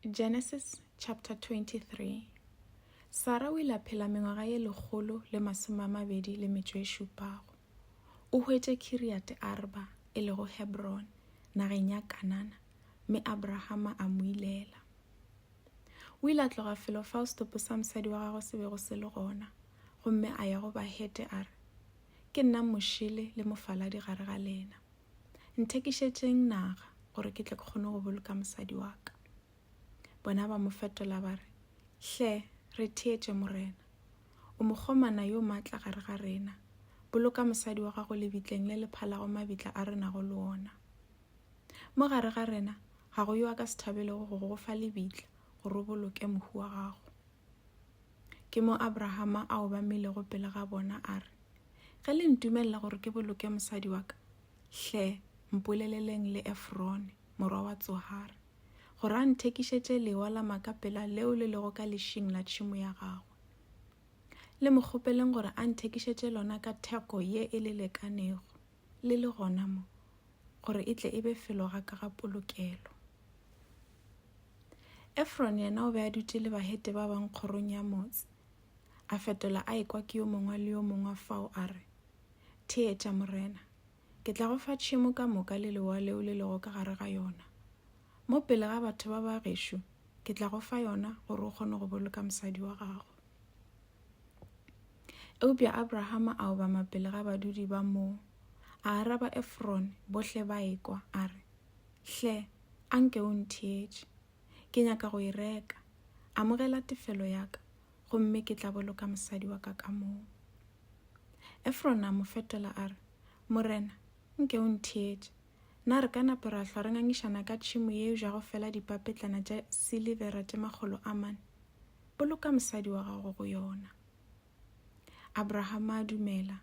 Genesis chapter 23 Sara o ile a phela mengwaga ye lekgolo le masome a mabedi le metšo e šupago. O hwetše Kiriate Arba, e lego Hebron, nageng ya Kanana, mme Abrahama a mo ilela. O ile a tloga felo fao setopo sa mosadi wa gagwe se bego se le gona, gomme a ya go Bahete a re, Ke nna mošele le mofaladi gare ga lena. nthekišetšeng naga gore ke tle ke kgone go boloka mosadi wa ka bona ba mo fetola ba re hle re theetše morena o mokgomana yo maatla gare ga rena boloka mosadi wa gago lebitleng le lephalago mabitla a re nago le ona mo gare ga rena ga go yo a ka se thabelego go go fa lebitla gore o boloke mohu wa gago Ke mo Abrahama a obamilego pele ga bona a re, Ge le ntumelela gore ke boloke mosadi wa ka, hle mpoleleleng le Efrone, morwa wa Tsohare, gore a nthekišetše lewa la makapela leo le lego ka lešing la tšhimo ya gagwe. Le mo kgopeleng gore a nthekišetše lona ka theko ye e le lekanego, le le gona mo, gore e tle e be felo ga ka ga polokelo. Efron yena o be a dutše le bahete ba bang kgorong ya motse, a fetola a ekwa ke yo mongwe le yo mongwe fao a re, Theetša morena, ke tla go fa tšhemo ka moka le lewa leo le lego ka gare ga yona. Mo pele ga batho ba ba gešo ke tla go fa yona gore o kgone go boloka mosadi wa gago. Eupša Abrahama a obama pele ga badudi ba moo, a araba Efron bohle ba ekwa, a re, Hle, a nke o ntheetše ke nyaka go e reka amogela tefelo ya ka gomme ke tla boloka mosadi wa ka ka moo efrona a mo fetola a re morena nke o ntheetše na re ka nape ra hlwa re ngangišana ka tšhimo yeo ja go fela dipapetlana tša silivera tše makgolo a mane boloka mosadi wa gago go yona Abrahama a dumela,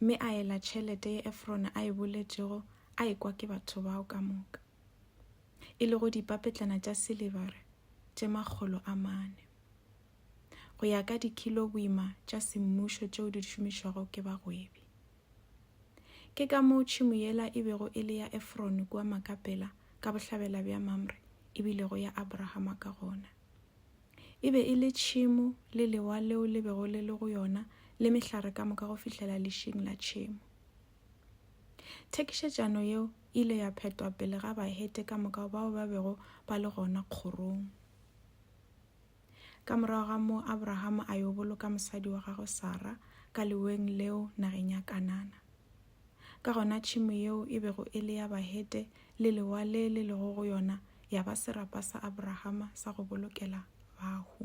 mme a ela tšhelete ye Efrone a e boletšego a ekwa ke batho bao ka moka, e lego dipapetlana tša silibare tše makgolo a mane, go ya ka dikilo boima tša semmušo tšeo di šomišwago ke bagwebi. Ke ka moo tšhimo yela e bego e le ya Efrone kua Makapela ka bohlabela bja Mamre e bilego ya Abrahama ka gona. E be e le tšhemo le lewa leo le bego le le go yona le mehlare ka moka go fihlela lešing la tšhemo. Thekišetšano yeo e ile ya phetwa pele ga Bahete ka moka bao ba bego ba le gona kgorong. Ka morago ga moo Abrahama a yo boloka mosadi wa gagwe Sara ka leweng leo nageng ya Kanana. Ka gona tšhemo yeo e bego e le ya Bahete le lewa le le lego go yona ya ba serapa sa Abrahama sa go bolokela bahu.